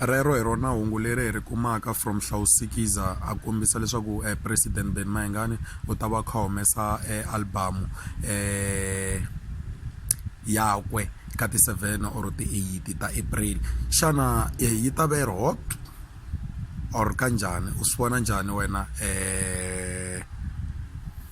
rero hi rona hungu leri hi ri kumaka from hlawusikiza a kombisa leswaku um eh, president ben mayengani u ta va kha humesa um eh, albamu um eh, yakwe ka ti-seven or ti-eight ta april xana yi ta va yi ri hot or kanjhani u swi vona njhani wena um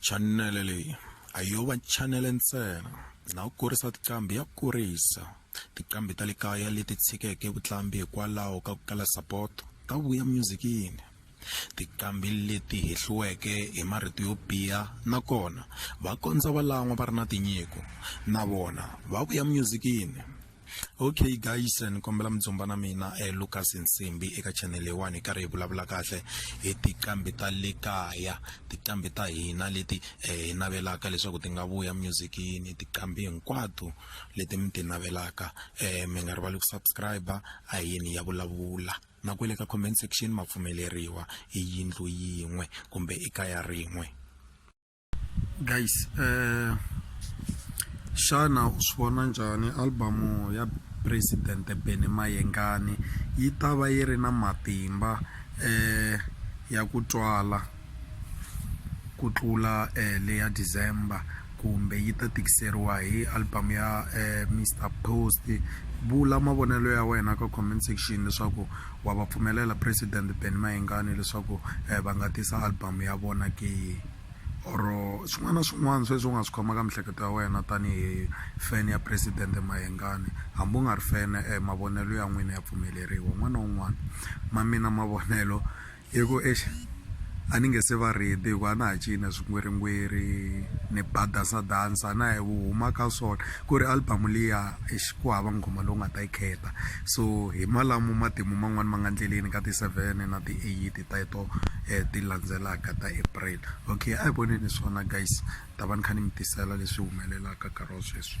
chanele leyi a yo va chanele ntsena na ku kurisa tiqambi ya kurisa tiqambi ta le kaya leti tshikeke vutlambi hikwalaho ka ku kala sapoto ta vuya myuzikini tiqambi leti hehliweke hi marito yo biha nakona va kondza va lan'wa va ri na tinyiko na vona va vuya myuzikini okay guys ni kombela mi dzumba na mina eh, lucas nsimbi eka channel leyiwani hi karhi hi vulavula kahle hi tiqambi ta le kaya tiqambi ta hina leti eh, hi navelaka leswaku ti nga vuya musicini tiqambi hinkwato leti mi ti navelaka eh, mi nga rivali ku subscribe a yini ya vulavula na kwele ka comment section ma pfumeleriwa i yindlu yin'we kumbe i kaya rin'we guys eh, xana u swi vona njhani albamu ya president bene mayengani yi ta va yi ri na matimba eh, ya ku twala ku tlula eh, leya december kumbe yi ta tikiseriwa hi album ya eh, mr post vula mavonelo ya wena ka comment section leswaku wa va pfumelela president Benny Mayengani leswaku eh, va nga tisa album ya vona ke or swin'wana na swin'wana sweswi u nga swi khomaka miehleketo ya wena tanihi fan ya president Mayengani hambi u nga ri fan eh, mavonelo ya n'wina ya pfumeleriwa un'wana na un'wana ma mina mavonelo hi ku exi a ni nge se va ready hi ku a na ha cina swingweringweri ni ba dansa dansa na hi vu huma ka swona ku ri album liya exi ku hava nghoma lowu nga ta yi khetha so hi malamo matimu man'wani ma nga ndleleni ka ti-seven na ti-eight ta to um ti landzelaka ta april okay a hi voneni swona guys ta va ni kha ni mi tisela leswi humelelaka nkarhi wa sweswi.